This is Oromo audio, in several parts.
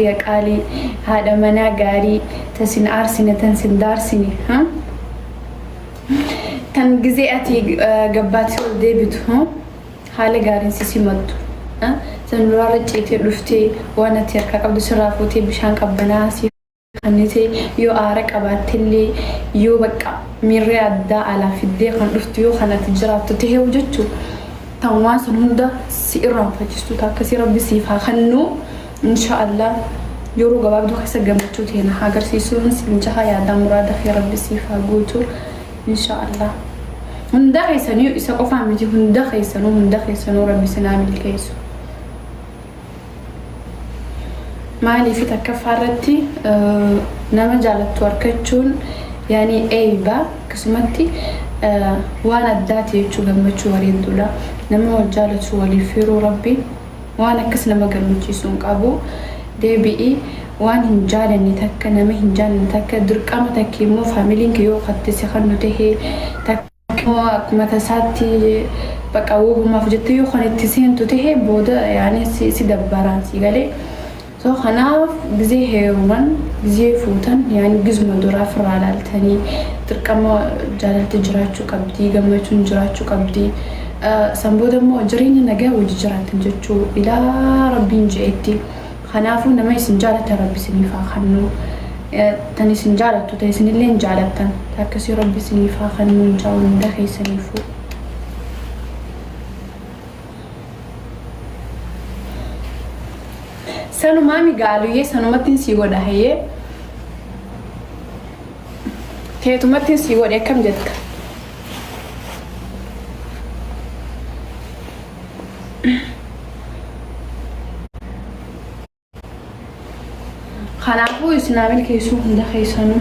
Tiyya qaalii haadha manaa gaarii ta sin aarsine tan sin daarsine ha tan gizee ati gabbaattee ol deebitu ha haala gaariin si simattu ha tan nuraarra ciitee dhuftee waan ati harkaa qabdu sirraa fuutee bishaan qabbanaa'aa si kannite yoo aara qabaattellee yoo baqqa miirree addaa alaa fiddee kan dhuftu yoo kan ati jiraattu taheewu jechuu tan waan san hunda si irraanfachistu ta akkasii rabbi siif haa kannu Insha Allah yeroo gabaabduu keessa gammachuu teena haa garsiisuun siin jaha yaadaa muraada kee rabbi siif haa guutu insha Allah hundaa keessaniyu isa qofaa miti hunda keessanuu hunda keessanuu rabbi sin haa milkeessu maaliif takkaffaa irratti eh, nama jaalattu arkachuun yaani eeyba akkasumatti eh, waan addaati jechuu gammachuu bareedduudha nama wal jaalatu waliif firuu rabbi Waan akkas nama gammachiisu hin qabu. Deebi'i waan hin jaalanne takka nama hin jaalanne takka dirqama takki immoo familiin kee yoo katte si kannu tahe takki immoo akkuma tasaatti baqa wobumaaf jettee yoo kan itti seentu tahe booda yaani si si dabbaraan sii galee. So kanaaf gizee heeruman gizee fuutan yaani gizuma duraa firraa laaltani dirqama jaalalti jiraachu qabdi gammachun jiraachu qabdi san booda immoo jireenya nagaa wajji jiraattan jechu ilaa rabbiin je'etti kanaafu nama isin jaalatan rabbi isiniif haa kannu tan isin jaalattu ta isinilleen jaalattan ta akkasii rabbi isiniif haa kannu inshaa hunda keessaniifu. Sanumaami gaaluyyee sanumattiin sii godha hayyee. Teetumattiin sii godhe akkam jetta? Kanaafuu isinaa milkeessuu hunda keessanuu.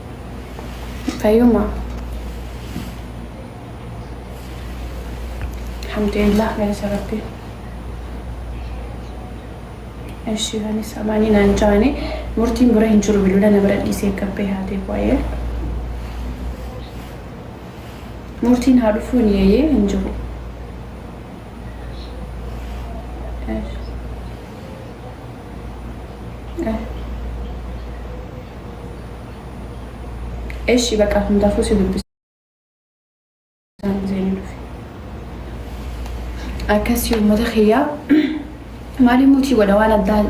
Fayuma. Alhamdulillah galata rabbi. Eshi bani samani nan jani murtin bura hin jiru bilula na bira dhise kabbe hate boye. Murtin ha dhufu ni ye hin jiru. Esh. Eshi baqa hundaafuu si dubbisa. Akkasii uummata kiyyaa maaliif mutii godha waan addaa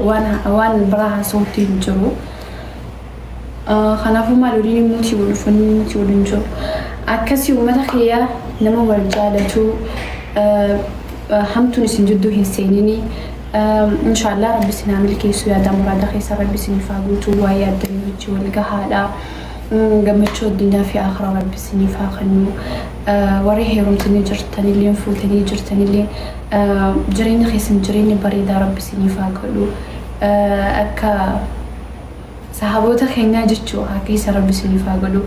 waan biraa haasawutti hin jiru. Kanaafuu maal waliin immoo si wal uffanni si waliin jiru. Akkasii uummata kiyyaa nama wal jaalatu hamtuun isin jidduu hin seenini. Inshaallah rabbi isin haa milkeessu yaadaa muraada keessa rabbi isiniif haa guutu waa yaaddanii wajji wal gahaadha. Gammachuu addunyaa fi akhiraa rabbi isiniif haa kennu. Warri heerumtanii jirtanillee fuutanii jirtanillee jireenya keessan jireenya bareedaa rabbi isiniif haa godhu. Akka Sahaboota keenyaa jechuu haa keessa rabbi isiniif haa godhu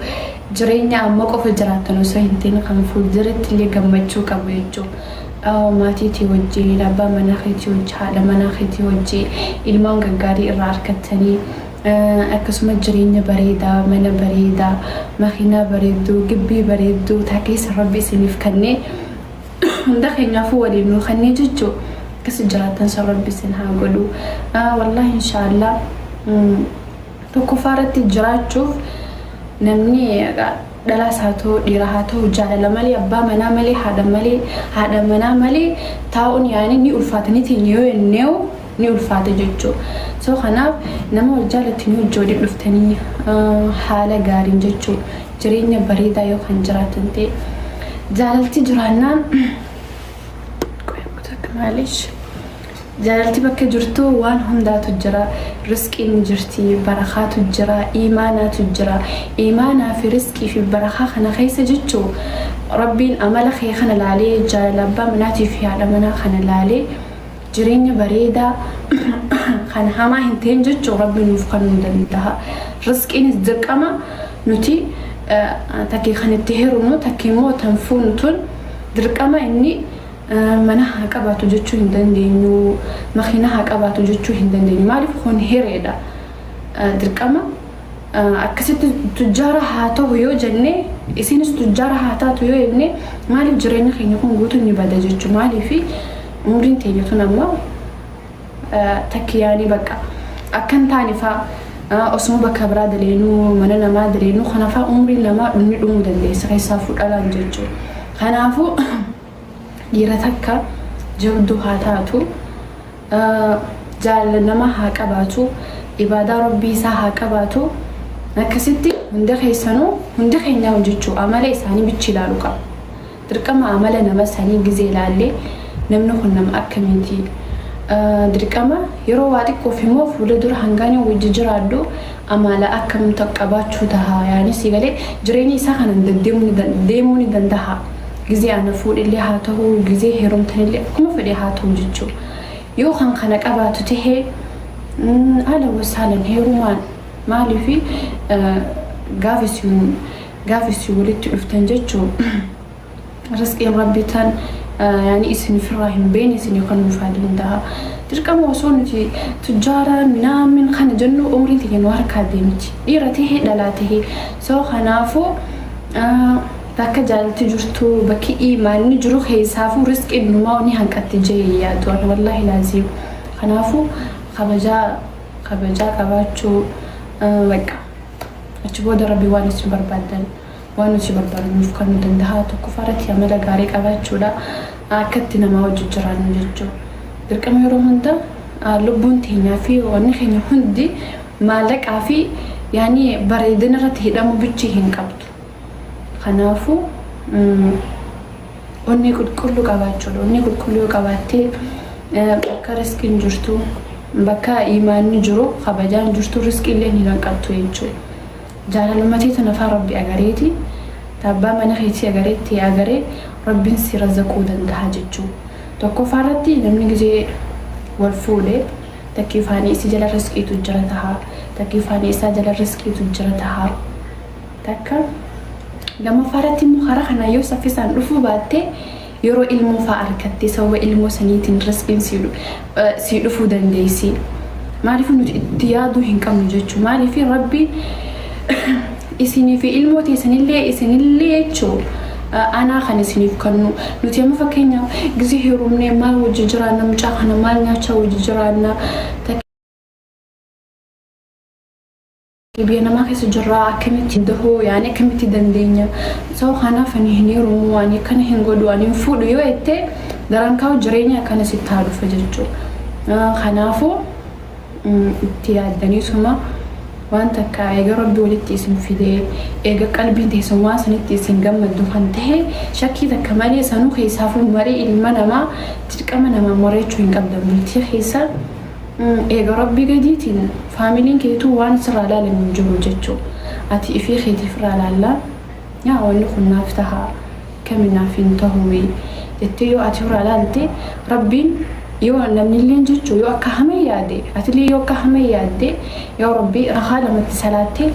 jireenya amma qofa jiraattan osoo hin ta'in kan fuulduratti illee gammachuu qabu jechuu maatii tee wajjiin abbaa manaa keetii wajji haadha manaa keetii wajji ilmaan gaggaarii irraa arkattanii akkasuma jireenya bareedaa mana bareedaa makiinaa bareedduu gibbii bareedduu taa keessa rabbi isiniif kannee hunda keenyaafuu waliin nuu kennee jechuu akkasi jiraattan san rabbi isin haa godhu wallahi inshaallah tokkoffaa irratti jiraachuuf namni dhalaas haa ta'u dhiira haa ta'u jaalala malee abbaa manaa malee haadha malee haadha manaa malee taa'uun yaani ni ulfaata ni teenya yoo jenneewu ni ulfaata jechuu so kanaaf nama wal jaalatanii wajji waliin dhuftanii haala gaariin jechuu jireenya bareedaa yoo kan jiraatan ta'e jaalalti jiraannaan maalish jaalalti bakka jirtu waan hundaatu jira risqiin ni jirti barakaatu jira iimaanaatu jira iimaanaa fi risqii fi barakaa kana keessa jechuu rabbiin amala kee kana laalee jaalala abbaa manaatii fi haadha manaa kana laalee jireenya bareedaa kan hamaa hin ta'in jechuun rabbi nuuf kan nuu danda'a risqiinis dirqama nuti takkee kan itti heerumnu takkee immoo tan fuunu tun dirqama inni mana haa qabaatu jechuu hin dandeenyu makiina haa qabaatu jechuu hin dandeenyu maaliif kun hireedha dirqama Akkasitti tujjaara haa tahu yoo jenne isiinis tujjaara haa taatu yoo jenne maaliif jireenya keenya kun guutuun ni bada jechu maaliifi umriin teenya tun amma takkiyaanii bakka akkan taane faa osuma bakka biraa daleenuu mana namaa daleenuu kanafaa umriin namaa dhumni dhumuu dandeessa keessaa fudhalaan jechu kanaafuu Dhiira takka jabduu haa taatu, jaalala namaa haa qabaatu, ibaadaa Rabbii isaa haa qabaatu, akkasitti hunda keessanuu hundi keenyaa hojjechuu amala isaanii bichi ilaalu qaba. Dirqama amala nama sanii gizee ilaallee namni kun nama akkamiiti? Dirqama yeroo waa xiqqoof immoo fuula dura hangaan yoo wajji jiraadhu Amaala akkam qabaachuu tahaa yaani sii galee jireenya isaa kanan deemuu ni dandahaa gizee ana fuudhellee haa tahuu gizee heerumtanillee akkuma fedhee haa tahuu jechuu yoo kan kana qabaatu tahee ahlan wasahlan heerumaan maaliif gaafa isin walitti dhuftan jechuu Risqiin Rabbii tan yani isin ofirraa hin beeyne isinii kanuuf haa dandaha. Dirqama osoo nuti tujjaara minaamin kana jennu umriin tiyya nu harkaa deemti. Dhiira tahee dhalaa tahee. So kanaafuu bakka jaalalti jirtu bakki iimaanni jiru keessaafuu risqiin numaa ni hanqatti jee hin yaadu ani wallaahi laaziim. Kanaafuu kabajaa kabajaa qabaachuu bakka achi booda Rabbii waan isin barbaadan. Waan nuti barbaannu nuuf kennuu danda'a. Tokkoffaa irratti amala gaarii qabaachuudha. Akkatti namaa wajjin jiraannu jechuun dirqama yeroo hunda lubbuun teenyaa fi wanni keenya hundi maallaqaa fi yaani bareedina irratti hidhamuu bichii hin qabdu. Kanaafuu onnee qulqulluu qabaachuudha. Onnee qulqulluu yoo qabaattee bakka riskiin jirtu bakka imaanni jiru kabajaan jirtu riskiillee hin hanqattu jechuudha. Jaalaluma teetu nafaa rabbi agareeti ta abbaa mana keetii agaree tee agaree rabbin si razaquu dandaha jechuu tokkoffaa irratti namni gizee wal fuudhe takkii faanii issi jala risqiitu jira taha takkii faanii isaa jala risqiitu jira taha takka lamaffaa irratti immoo karaa kanaan yoo saffisaan dhufuu baatte Yeroo ilmoo faa arkattee sababa ilmoo saniitiin rasbiin sii dhufuu dandeessii maaliifuu nuti itti yaaduu hin qabnu jechuu maaliifii rabbiin isinii fi ilmoo teessanillee isinillee jechuu anaa kan isiniif kannu nuti amma fakkeenya gizii heerumnee maal wajji jiraanna mucaa kana maal nyaachaa wajji jiraanna Biyya namaa keessa jirraa akkamitti dahoo yaani akkamitti dandeenya soo kanaaf ani hin heerumu ani akkana hin godhu ani hin fuudhu yoo jettee daraan kaa'u jireenya akkana sitti haa dhufa jechuu kanaafuu itti yaaddanii suma waan takka eega rabbi walitti isin fidee eega qalbiin teessan waan sanitti isin gammaddu kan tahe shakkii takka malee sanuu keessaafuu marii ilma namaa dirqama namaa mari'achuu hin qabdan bultii keessa Eega rabbii gadiitiin faamiliin keetuu waan sirraa laalan hin jiru jechu ati ifii keetii firraa laallaa yaa wanni kun naaf taha kami naaf hin tahuuyi jettee yoo ati firraa laalte rabbiin yoo namnilleen jechu yoo akka hama yaade atillee yoo akka hama yaadde yaa rabbii rakaa lamatti salaatte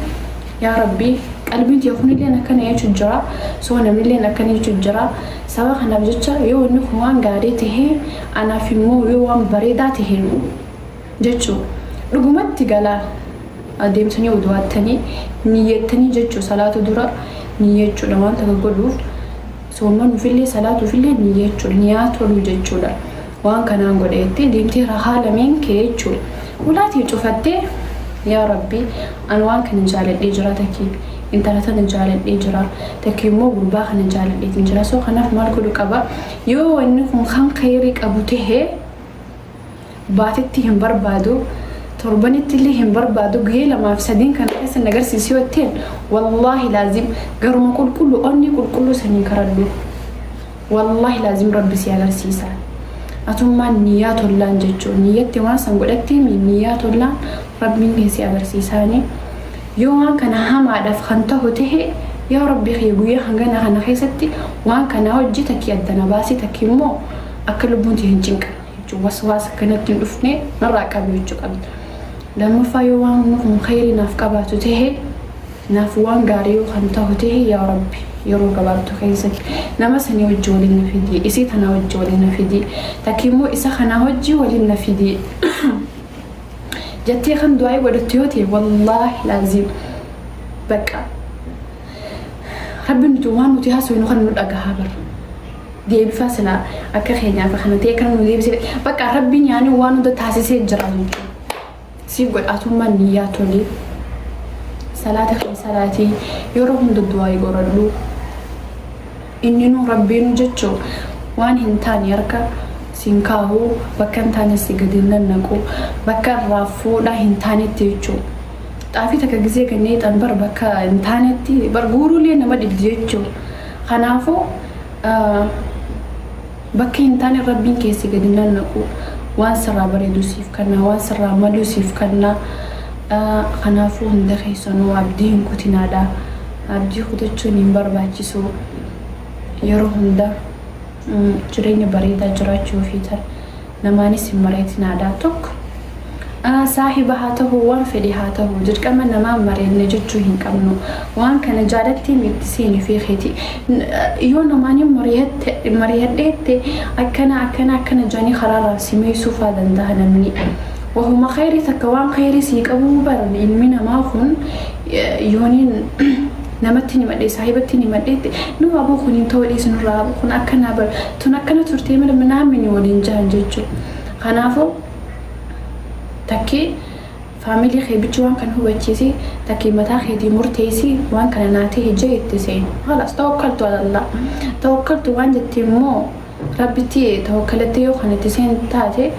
yaa rabbii qalbiin tiyya kunilleen akkana jechu jira soo namnilleen akkana jechu jira sababa kanaaf jecha yoo wanni kun waan gaarii tahee Anaaf immoo yoo waan bareedaa tahe nu jechuu dhugumatti galaa deemtanii wudu'aattanii niyyattanii jechuu salaatu dura niyyachuudha waan takka godhuuf soommanuufillee salaatuufillee niyyachuudha niyaa toluu jechuudha waan kanaan godha jettee deemtee rakaa lameen kee jechuu ulaatii cufattee yaa rabbii an waan kana jaaladhee jira takki intala tana jaaladhee jira takki immoo gurbaa kana jaaladheetiin jira soo kanaaf maal godhu qaba Yoo wanni kun kan kheeyrii qabu tahe baatitti hin barbaadu, torbanittillee hin barbaadu, guyyee lamaaf sadiin kana keessa na garsiisi yoo jetteen, wallaahi laazim garuma qulqulluu onnee qulqulluu saniin karadhu. Wallaahi laazim Rabbi si agarsiisa. Atummaan niyyaa tollaan jechuun niyyatti waan san godhatteemi niyyaa tollaan Rabbiin kee si agarsiisaani. Yoo waan kana hamaadhaf kan tahu tahe yaa rabbi kiyya guyya hangana kana keessatti waan kana hojji takki adda na baasi takki immo akka lubbuun tiyya hin cinqamne jechu waswaasa akka natti hin dhufne narraa qabi jechu qabda lammaffaa yoo waanni kun kheeyrii naaf qabaatu tahe naaf waan gaarii yoo kan tahu tahe yaa rabbi yeroo gabaabdu keessatti nama sanii hojji waliin na fidii isii tanaa hojji waliin na fidii takki immo isa kanaa hojji waliin na fidii Jattee kan du'aa'ii godhattu yoo ta'e wallaahi laaziim bakka rabbi nuti waan nuti haasofnu kan nu dhagahaa bar deebifaa silaa akka keenyaaf kana ta'e kan nu deebisee bakka rabbi nyaanii waan hunda taasisee jira nuti siif godhaatummaa niyyaa tolee salaata kan salaatii yeroo hunda du'aa'ii godhadhu Inninuu Rabbiinuu jechuu waan hin taane harka si hin kaahu, bakka hin taanes si gadi hin nannaqu, bakka irraa fuudhaa hin taanetti jechuu. Xaafii takka gizee ganna hiixan bar bakka hin taanetti bar guuruullee nama dhibdi jechuu. Kanaafuu. Bakka hin taanen Rabbiin kee si gadi nannaqu waan sirraa bareedu siif kanna waan sirraa malu siif kanna kanaafuu hunda keessanuu abdii hin kutinaadha abdii kutachuun hin barbaachisu yeroo hunda jireenya bareedaa jiraachuu feetan namaanis hin mari'atinaadha tokko Saahiba haa tahu waan fedhe haa tahu dirqama namaa mari'anna jechuu hin qabnu. Waan kana jaalattii mi itti seeni ofii keetii. Yoo namaaniin mari'adhe jette akkana akkana akkana jedhanii karaa irraa si meeysuu faa dandaha namni. Wahuma kheeyrii takka waan kheeyrii sii qabuu bar ilmi namaa kun yooniin namattiin himadhe saahibattiin himadhe jette no aboo kun hin tahu dhiisi nurraa kun akkanaa bar tun akkana turtee malee naa mini waliin jahan jechuu. Kanaafuu. Takkee family kee bichi waan kana hubachiisi takkee mataa keetii murteessi waan kana naa tahe jee itti seeni khalas tawakkaltu alallah tawakkaltu waan jetti immoo rabbitti tawakkalattee yoo kan itti seentu taate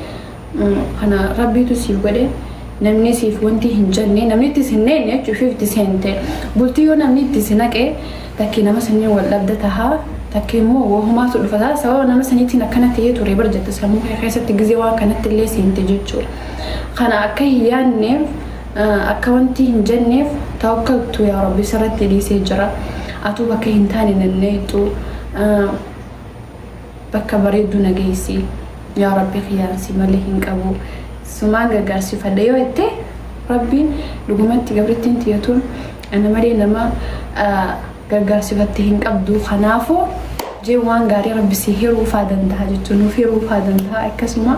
kana rabbiitu siif godhe namni siif wanti hin jenne namni itti sin neenne jechuuf itti seente bultii yoo namni itti si naqe Takkee nama saniin wal dhabda taha takkee immoo wahumaatu dhufa taha sababa nama saniitiin akkana tahee ture bar jetta sammuu kee keessatti gizee waan kanatti illee seente jechuudha kana akka hin yaanneef akka wanti hin jenneef tawakkaltu yaa rabbi sirratti dhiisee jira atuu bakka hin taane nanneexxu bakka bareedduu na geessi yaa rabbi kiyyaan si malee hin qabu sumaan gargaarsifadha yoo jette rabbiin dhugumatti gabrittiin tiyya tun Ana malee nama gargaarsifatte hin qabdu kanaafu jee waan gaarii rabbi si hiruufaa dandaha jechuu nuuf hiruufaa dandaha akkasuma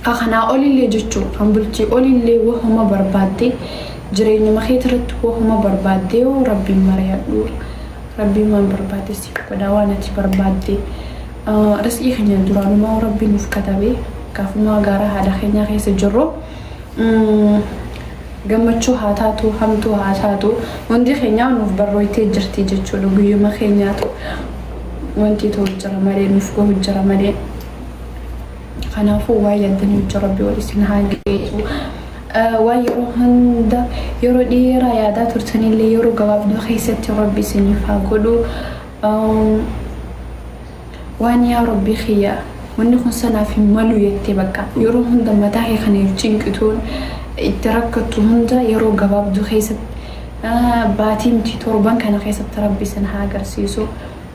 kakanaa olillee jechuu kan bultii olillee wahuma barbaadde jireenyuma keetirratti wahuma barbaadde yoo rabbiin mariyadhu rabbiin waan barbaadde si godha waan ati barbaadde risqii keenya duraanuma rabbi nuuf katabee gaafumaa gaara haadha keenyaa keessa jirru gammachuu haa taatu hamtuu haa taatu hundi keenyaa nuuf barrooytee jirti jechuudha guyyuma keenyaatu wanti ta'u jira malee nuuf gahu jira malee kanaafuu waa yaaddanii hojii rabbi wal isin haa geessu waa yeroo hunda yeroo dheeraa yaadaa turtanillee yeroo gabaabduu keessatti rabbi isiniif haa godhu Uum waan yaa rabbii kiyyaa wanni kun sanaaf hin malu jettee bakka yeroo hunda mataa kee kan itti cinqituun itti rakkattu hunda yeroo gabaabduu keessatti ah, baatii miti torban kana keessatti rabbi isin haa agarsiisu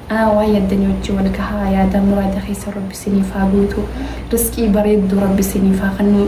ah, waan yaddanii wajjin wal gahaa yaadaa muraada keessan rabbi isiniif haa guutu risqii bareedduu rabbi isiniif haa kennu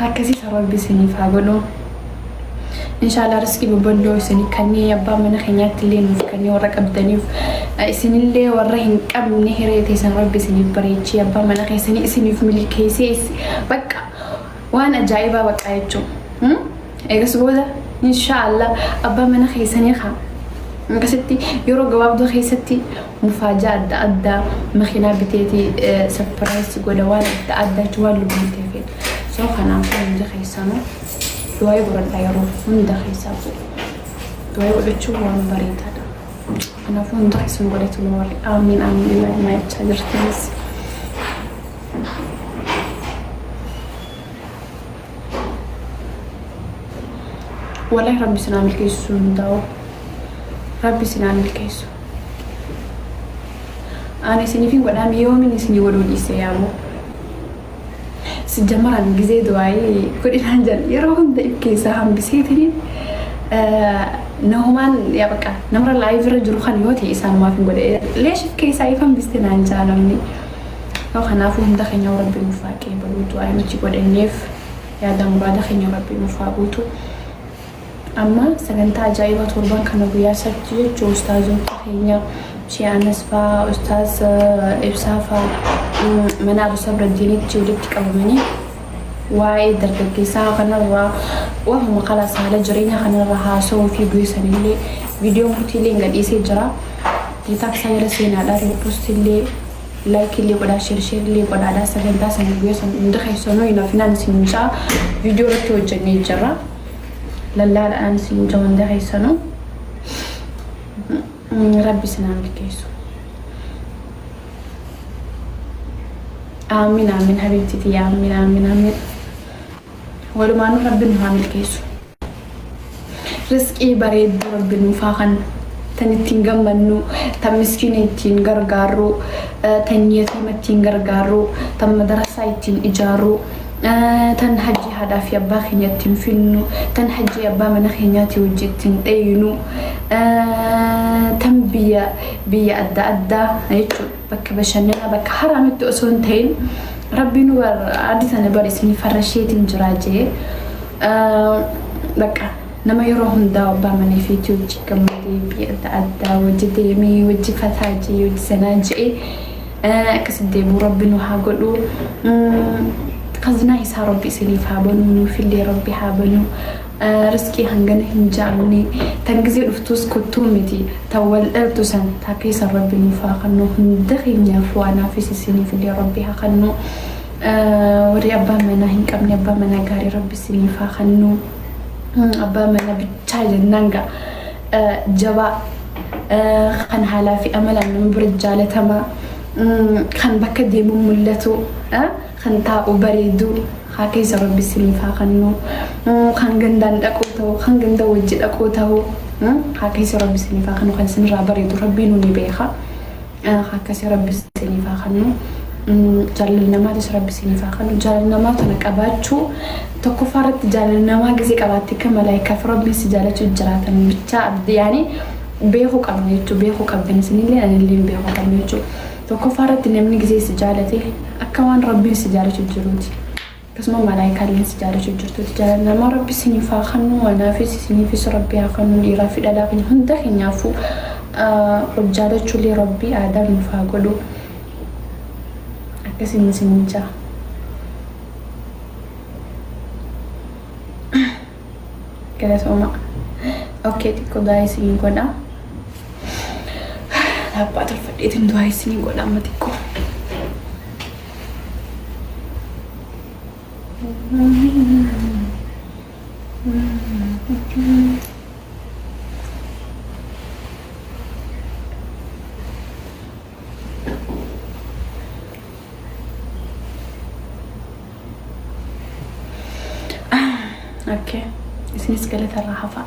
harkasii sa rabbi isiniif haa godhu inshaallah riskii bobballoo isinii kannee abbaa mana keenyaatti illee nuuf kannee warra qabdaniif isinillee warra hin qabne hiree teessan rabbi isiniif bareechee abbaa mana keessanii isiniif milkeessee bakka waan ajaa'ibaa baqqaa jechuun eegas booda inshaallah abbaa mana keessanii haa akkasitti yeroo gabaabduu keessatti mufaajaa adda addaa makinaa biteeti sapiraayis godha waan adda addaa jechuun waan lubbuutee feetu. So kanaafuu hundi keessanuu du'aayii godhadhaa yeroo hunda keessaafuu. Du'aayii godhachuun waan bareedaadha. Kanaafuu hundi keessan godhatu nu warri aamiin aamiin ilaa ilmaa jechaa jirtanis. Walahi rabbi sinaa milkeessu sun hundaa'u rabbi sinaan milkeessu ani isinifin godhaam yoomin isinii godhuu dhiise yaaboo sijjamaran gizee du'aayii godhinaan jedhan yeroo hunda if keessaa hambiseetini nahumaan yaa bakka namra laayivira jiru kan yoo ta'e isaanumaaf hin godhe leeshif keessaa if hambiste naan jaa namni Kanaafuu hunda keenyaa'uu Rabbi nuuf haa qeebaluu du'aayi nuti godhanneef yaada muraada keenya Rabbi nuuf haa guutu. Amma sagantaa ajaa'ibaa torban kana guyyaa sabti jechuun ustaazota keenya Shee Anas faa ustaaz Ibsaa faa mana Abu Sabraddiinitti walitti qabamanii Waa'ee dargaggeessaa kanarraa waanuma kalaas haala jireenyaa kanarra haasawuu fi bu'ee sanillee viidiyoon kutiillee hin gadhiisee jira. Tiktaak isaa jala seenaadhaa riippostillee laayikiillee godhaa sheersheerillee godhaadhaa sagantaa sana guyyaa sana hundi keessanuu hin hafinaan isin ja'a viidiyoo irratti hojjennee jirra. Lallaadhaan isin ja'a hundi keessanuu. Rabbi isin haa milkeessu. Aamiin aamiin habiibti tiyya aamiin aamiin aamiin. Walumaanuu rabbi nu haa milkeessu. Risqii bareedduu rabbi nuuf haa kennu. Tan ittiin gammannu, tan miskiina ittiin gargaarru, tan yatiima ittiin gargaarru, tan madarassaa ittiin ijaarru. tan hajjii haadhaa fi abbaa keenya ittiin finnu tan hajjii abbaa mana keenyaatii wajji ittiin dheeynu tan biyya biyya adda addaa jechuudha bakka bashannanaa bakka haraamitti osoo hin ta'in rabbii nu addi sana bar isin farrasheetiin jiraa jee bakka nama yeroo hundaa abbaa mana fiitii wajji gammadee biyya adda addaa wajji deemee wajji fataa jee wajji sanaa jee Akkasi deemu rabbi nu haa godhu kaznaa isaa rabbi isiniif haa banuu nuufillee rabbi haa banuu risqii hangana hin jaamne tan gizee dhuftuus kottuu miti tan wal dhaltu san taa keessa rabbi nuuf haa kannu hunda keenyaaf waan haafis isiniifillee rabbi haa kannu warri abbaa manaa hin qabne abbaa manaa gaarii rabbi isiniif haa kannu abbaa manaa bichaa jennaan ga'a. jabaa kan haalaa fi amalaan nama bira jaalatamaa kan bakka deemu mul'atu kan taa'u bareedu haa keessa rabbi isiniif haa kennu kan gandaan dhaquu ta'u kan ganda wajji dhaquu ta'u haa keessa rabbi isiniif haa kennu kan isinirraa bareedu rabbiin ni beeka. akkasi rabbi isiniif haa kannu jaalala namaatis rabbi isiniif haa kannu jaalala namaa tana qabaachuu tokkoffaa irratti jaalala namaa gisee qabaatte akka malaayikaaf rabbiin si jaalachuu jiraatan bichaa abdi yaani beekuu qabna jechuu beekuu qabdan isinillee anillee beekuu qabna jechuu tokkoffaa irratti namni gisee si jaalate akka waan rabbiin si jaalachuu jiruuti. Akkasuma malaayikaa illeen si jaalachu jirtuti jaalalama rabbi sinif haa kannu anaafis isiniifis rabbi haa kannu dhiiraa fi dhalaa keenya hunda keenyaafuu wal jaalachu illee rabbi aadaa nuuf haa godhu akkasiin isiniin jaa. Galatoomaa. Okkee xiqqoo du'aa isinii godha. Laappaa tolfadheetiin du'aa isinii godha amma xiqqoo. Okay. Isinis galatarraa hafaa.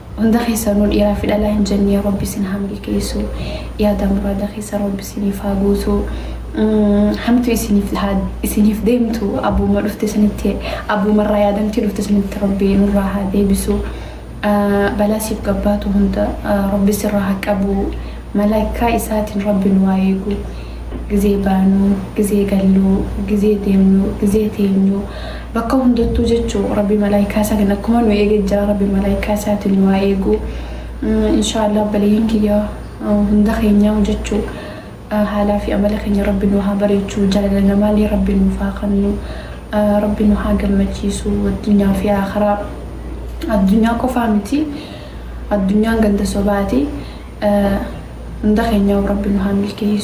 Hunda keessanuu dhiiraa fi dhalaa hin jennee rabbi isin haa milkeessu yaada muraada keessan rabbi isiniif haa guutu hamtu isiniif haa isiniif deemtu abbuma dhufte sanitti abbuma irraa yaadamtee dhufte sanitti rabbi nurraa haa deebisu balaa siif gabbaatu hunda rabbi sirraa haa qabu Malaikkaa isaatin rabbi nu haa eegu gizee baanu gizee gallu gizee deemnu gizee teenyu bakka hundattuu jechu rabbi malaikkaa isaatin akkuma nu eege jira rabbi malaikkaa isaatin nu haa eegu inshaallah obboleeyyan kiyya hunda keenyaahu jechu haalaa fi amala keenya rabbi nu haa bareechu jaalala namaalee rabbi nuuf haa kannu rabbi nu haa gammachiisu addunyaa fi aakhiraa addunyaa qofaa miti Addunyaan ganda sobaati. Hunda keenyaahuu rabbi nu haa milkeessu.